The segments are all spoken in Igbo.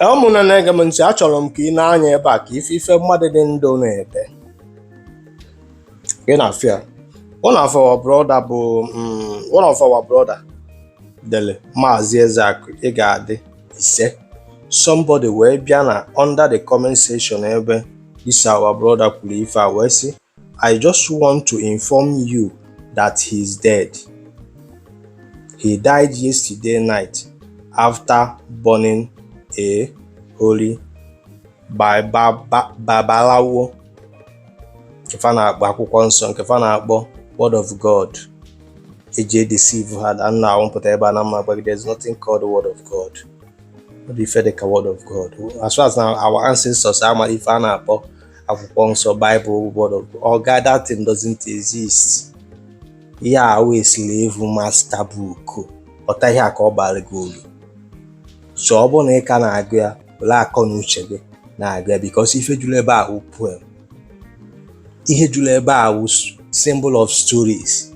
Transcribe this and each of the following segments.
Ee, ụmụnne na-ege m ntị achọrọ m ka i nee anya ebe a ka ị fụ ife mmadụ dị ndụ na-ede ị na-afụ ya one of our brother bụ mm, one of our brother dele Maazị Ezeakụ ị ga-adị isee somebody wee bịa na under the comment section ebe this our brother kwuru ife a wee sị I just want to inform you that he's dead. He died yesterday night after burning a holy Babalawo nke fa na-akpọ akwụkwọ nsọ nke fa na-akpọ word of God eji edeceive ha na nna a wụ m pụta ebe a ana m agwa gị that there's nothing called word of God ọ dị ife dịka word of God as far as na our ancestors ama ife a na-akpọ akwụkwọ nsọ Bible word of God oga that thing doesn't exist ihe a wụ slave master book ghọta ihe a ka ọ bara gị ulu so ọ bụrụ na ị ka na-agụ ya were akọ na uche gị na-agụ ya because ife juru ebe a wụ poem ihe juru ebe a wụ symbol of stories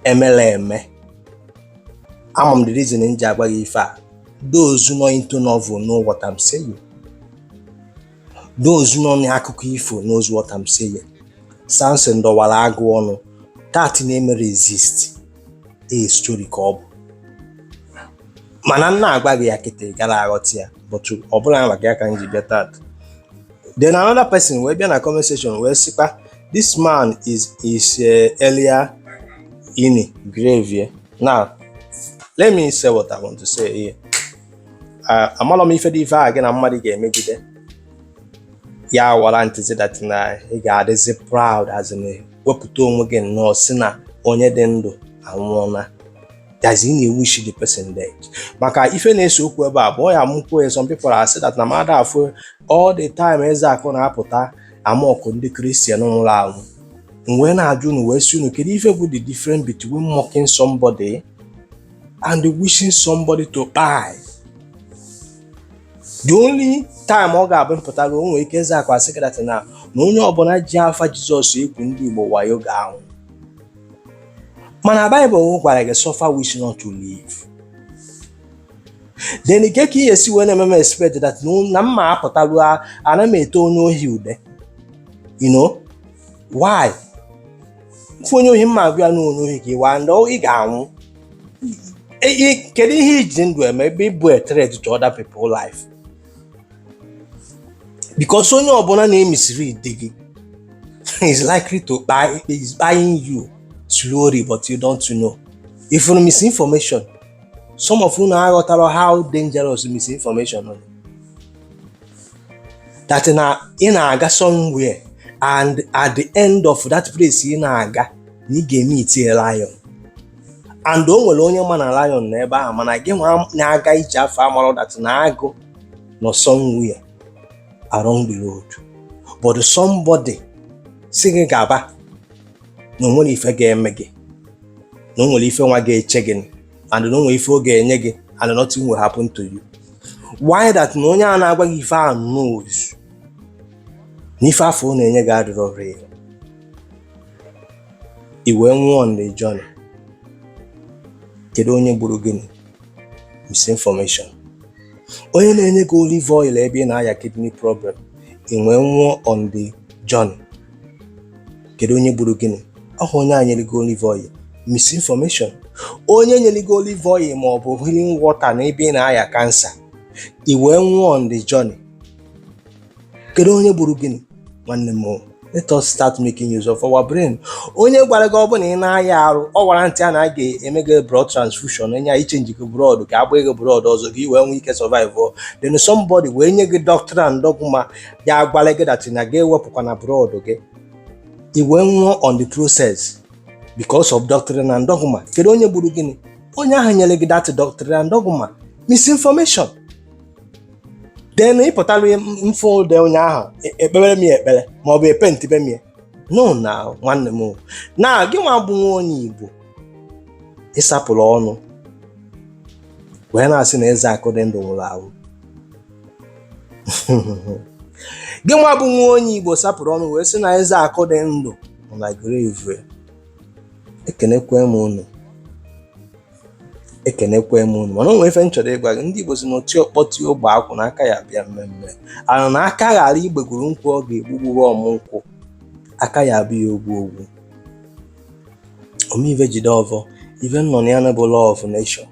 emela eme ama m the reason m ji agwa gị ife a those nọ into novel know what I'm saying those nọ n'akụkọ ifo knows what I'm saying Samson dọwara agụ ọnụ that never exist a story ka ọ bụ mana m na-agwa gị ya kịta gara aghọta ya but ọ bụlọ maka ya ka m ji bịa taa then another person wee bịa na comment section wee sịkwa this man is is uh, earlier in grave yeah? now let me say what I want to say here amalọ m ife dị ife a gị na mmadụ ga-emegide ya warrantịzi that na ị ga-adịzi proud as in wepụta onwe gị nnọọ sị na onye dị ndụ anwụọla that is ị na-ewish the person dead maka ife na-ese okwu ebe a bụ ọ ya m kwuo ya some people asị that na mmadụ afụ all the time Ezeakụ na-apụta amock ndị Christian nwụrụ anwụ m wee na-ajụ unu wee sị unu kedu ife bụ the difference between mocking somebody and wishing somebody to kpai the only time ọ ga-abụ m pụtalụ o nwere ike Ezeakụ asị gị that na na onye ọbụla ji afa Jizọs egwu ndị Igbo wayo ga-anwụ mana Baịbụl gwara gị suffer witch not to live then kee ka ị ga-esi wee na-eme m expect that na- na m ma apụtalụ a- ana m ete onye ohi ude you know why fụ onye ohi mma agwa ya na onye ohi ka ị waa ndị ọ- ị ga-anwụ E- e- kedu ihe i ji ndụ eme ebe ị bụ a threat to other people life because onye ọbụla na-emislead gị is likely to kpai is kpaiing you slowly but you don't know ị fụrụ misinformation some of unu aghọtarọ how dangerous misinformation is that na ị na-aga somewhere and at the end of that place ị na-aga na ị ga-emeetie lion and o nwere onye ma na lion nọ ebe ahụ mana gị nwa na-aga ije afụ amarọ that na agụ nọ somewhere along the road but somebody sị gị gaba na o nwerọ ife ga-eme gị na o nwere ife nwa ga-eche gị and na o nwe ife ọ ga-enye gị and nothing will happen to you why that na onye a na-agwa gị ife a knows na ife afụ ọ na-enye gị adịrọ real i wee nwụọ on the journey kedu onye gburu gịnị misinformation onye na-enye gị olive oil ebe ị na-aya kidney problem i wee nwụọ on the journey kedu onye gburu gịnị ọ bụ onye a nyere gị olive oil misinformation onye nyere gị olive oil ma ọ bụ healing water na ebe ị na-aya cancer i wee nwụọ on the journey kedu onye gburu gịnị nwanne m o, let us start making use of our brain onye gwara gị ọ bụ na ị na-aya arụ ọ warrantịa na a ga-eme gị blood transfusion enye anyị chenji gị blood ka a gba gị blood ọzọ ka i wee nwee ike survive ọ. then somebody wee nye gị doctrine and dogma ya gwara gị that na gị ewepụkwana blood gị i wee nwụọ on the process because of doctrine and dogma kedu onye gburu gịnị onye ahụ nyere gị that doctrine and dogma misinformation then ị pụtara m fụ ụdị onye ahụ e- ekpere m ya ekpere ma ọ bụ epentibe m ya no na nwanne m o. na gị nwa bụ nwa onye igbo ị sapụrụ ọnụ wee na-asị na Ezeakụ dị ndụ nwụrụ anwụ gị nwa bụ nwa onye igbo sapụrụ ọnụ wee sị na Ezeakụ dị ndụ nọ na grave ekenekwe m unu ekenekwe m unu mana o nwe ife m chọrọ ịgwa gị ndị igbo sị na oti ọkpọ ti ogbe akwụ na aka ya bịa mmee mmee and na aka ghara igbegoro nkwụ ọ ga-egbugbuwe ọmụ nkwụ aka ya abịa ogwu ogwu ome ive jide ọvọ ive nọ na ya na bụ law of nature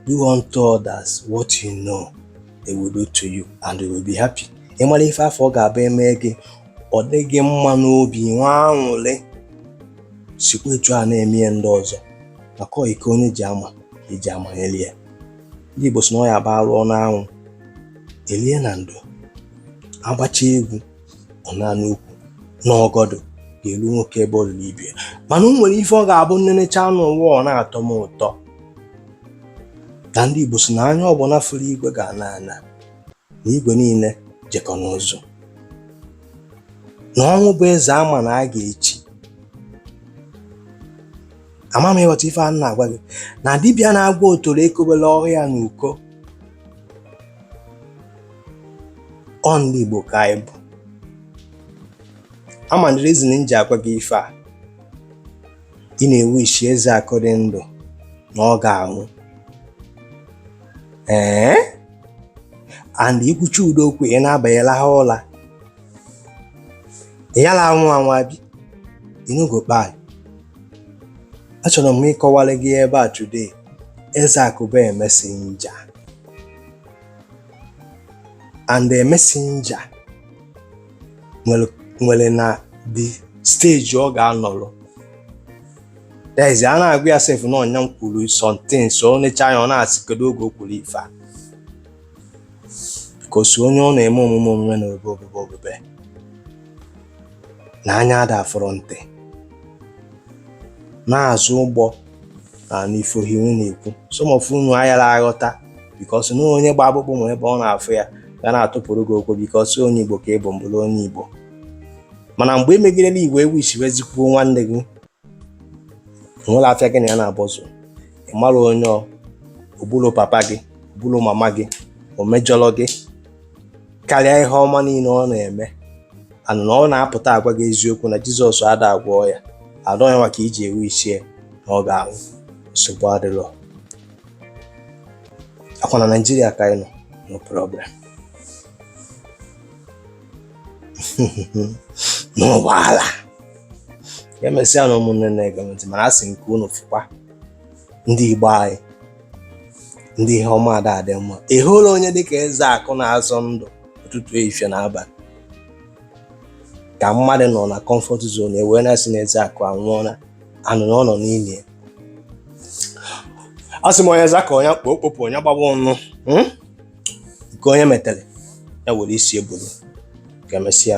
do unto others what you know they will do to you and they will be happy ị mara ife afụ ọ ga-abụ e me gị ọ dị gị mma n'obi nwee anwụlị sikwa etu a na-eme ya ndị ọzọ maka iko onye ji ama e ji amanyeli ya ndị Igbo sị na ọ ya-abụ a rụọ n'anwụ e lie na ndo a gbacha egwu ọ na n'ukwu n'ọgọdụ ga-elu nwoke ebe o lulu ibe ya mana o nwere ife ọ ga-abụ nnenecha anụ ụwa ọ na-atọ m ụtọ na ndị Igbo si na anya ọbụna fụrụ igwe ga-ana ana na igwe niile jekọ n'ụzụ na ọnwụ bụ eze a ma na a ga-echi ama m ịghọta ife a na-agwa gị na dibịa na-agwọ otoro ekobere ọhụ ya n'uko ọ ndị Igbo ka anyị bụ ama the reason m ji agwa gị ife a ị na-ewu isi Ezeakụ dị ndụ na ọ ga-anwụ ee and ị kwucha ụdị okwu ị naba ị laha ụla yala anwụ anwụ abi i no go kpai achọrọ m ịkọwara gị ebe a today Ezeakụ bụ messenger and the messenger nwere na the stage ọ ga-anọrọ there is a na-agwa ya sef na ọnya m kwuru something so ọ necha anya ọ na-asị kedu oge o kwuru ife a because onye ọ na-eme omume omume na obe obebe obebe na anya ada afụrọ ntị n'azụ ụgbọ na n'ifo ha iwu na-ekwu some of unu ayara aghọta because na onye gba akpụkpọ ma ebe ọ na-afụ ya ga na-atụpụrụ gị okwu because onye Igbo ka ị bụ m bụrụ onye Igbo mana mgbe emegidela Igbo ewu isi Ezeakụ nwanne gị nwere afịa gị na ya na-abọzụ ị mara onye o gburu papa gị o gburu mama gị o mejọrọ gị karịa ihe ọma niile ọ na-eme and na ọ na-apụta agwa gị eziokwu na jizọs ada agwọ ọya adọ ya maka iji ewu isi ya na ọ ga-anwụ nsogbu adịrọ ọ kwa na naijiria ka anyị nọ no problem n'ụgbọala ka emesịa nụ ụmụnne na-ege ntị mana a sị m ka unu fụkwa ndị igbo anyị ndị ihe ọma ada adị mma ị hụla onye dịka Ezeakụ na-azọ ndụ ụtụtụ ehihie na abalị ka mmadụ nọ na comfort zone ewee na-asị na Ezeakụ anwụọla and na ọ nọ n'ili a sị m onye za ka onye kpo o kpopụ onye gbaba ọnụ hmm? nke onye metere ya were isi ya bulu ka emesịa